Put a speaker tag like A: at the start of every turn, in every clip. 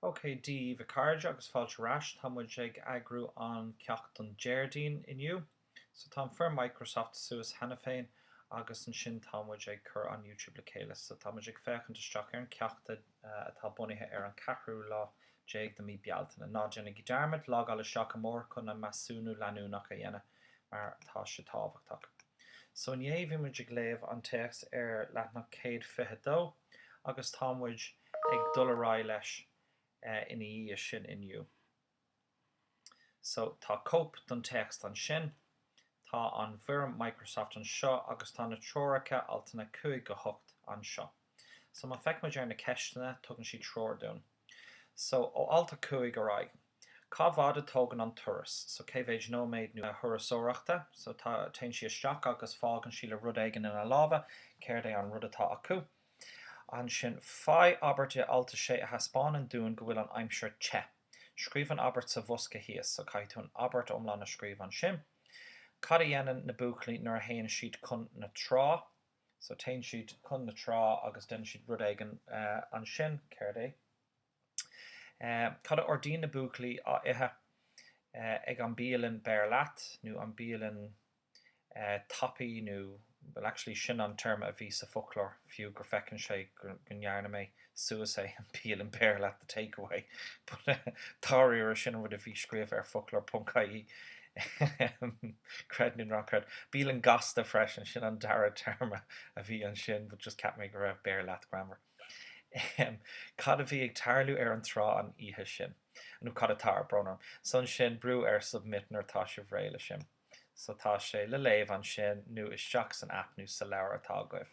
A: OK. Daoibh a cairde agus fáilte ar ais. Tá muid ag eagrú an ceacht don Déardaoin inniu. So tá an foirm Microsoft suas cheana féin agus ansin tá muid ag cur an YouTube le chéile. So tá muid ag féachaint isteach ar an ceacht atá bunaithe ar an 4ú lá déag de mí Bealtaine. Ná déanaigí dearmad, logáil isteach amárach chun an measúnú leanúnach a dhéanamh mar tá sé tábhachtach. So inné bhí muid ag léamh an téacs ar leathnach céad fiche dó agus tá muid ag dul ar aghaidh leis ina dhiaidh sin inniu. So tá cóip don téacs ansin. Tá an bhfoirm Microsoft anseo agus tá na treoracha, altanna 5-8, anseo. So má feic muid ar na ceisteanna, tugann siad treoir dúinn. So, ó alt a cúig ar aghaidh, cá bhfad a tógann an turas? So, cé mhéid nóiméad nó thurasóireachta? So, tá, téann sí isteach agus fágann sí le rud éigin ina lámha, céard é an rud atá acu? Ansin, faigh abairt i alt a sé a thaispeánann dúinn go bhfuil an aimsir te. Scríobh an abairt sa bhosca thíos. So, caithfidh tú an abairt iomlán a scríobh ansin. Cad a dhéanann na buachaillí nuair a théann siad chun na trá? So téann siad chun na trá agus déanann siad rud éigin ansin. Céard é? Cad a ordaíonn na buachaillí á ithe ag an bialann beir leat nó an bialann tapaidh nó, bhuel actually sin an téarma a bhí sa foclóir fiú gur feiceann sé go ndearna mé suas é, an bialann beir leat, the take away, but dáiríre sin an rud a bhí scríofa ar foclóir ponc ie, creid nó ná creid. Bialann gasta freisin, sin an dara téarma a bhí ansin, but just cheap mé go raibh beir leat greannmhar. Cad a bhí ag tarlú ar an trá an oíche sin? nó cad atá ar brón orm? So ansin, brú ar submit nuair atá sibh réidh le sin. So tá sé le léamh ansin, nó isteach san aip nó sa leabhar atá agaibh.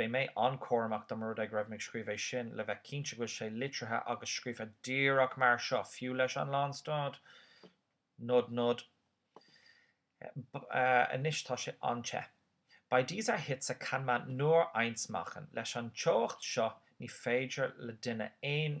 A: Beidh mé an-chúramach dá mba rud é go raibh mé ag scríobh é sin le bheith cinnte go bhfuil sé litrithe agus scríofa díreach mar seo, fiú leis an lánstad. Nod, nod. Anois tá sé an-te. Bei dieser Hitze kann man nur eins machen. Leis an teocht seo ní féidir le duine aon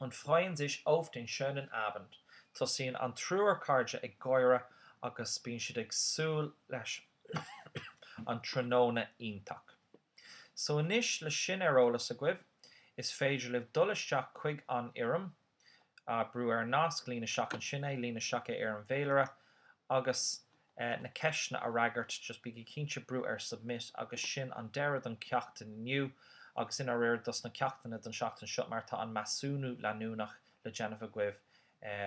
A: und freuen sich auf den schönen Abend, tosaíonn an triúr cairde ag gáire agus bíonn siad ag súil leis an tráthnóna iontach. So anois, le sin ar eolas agaibh, is féidir libh dul isteach chuig an fhoirm, brú ar an nasc, líon isteach ansin é, líon isteach é ar an bhféilire agus eh, na ceisteanna a fhreagairt, just bígí cinnte brú ar submit agus sin an deireadh don ceacht inniu agus i ndáiríre dos na ceachtanna don seachtain seo mar tá an measúnú leanúnach le déanamh agaibh eh,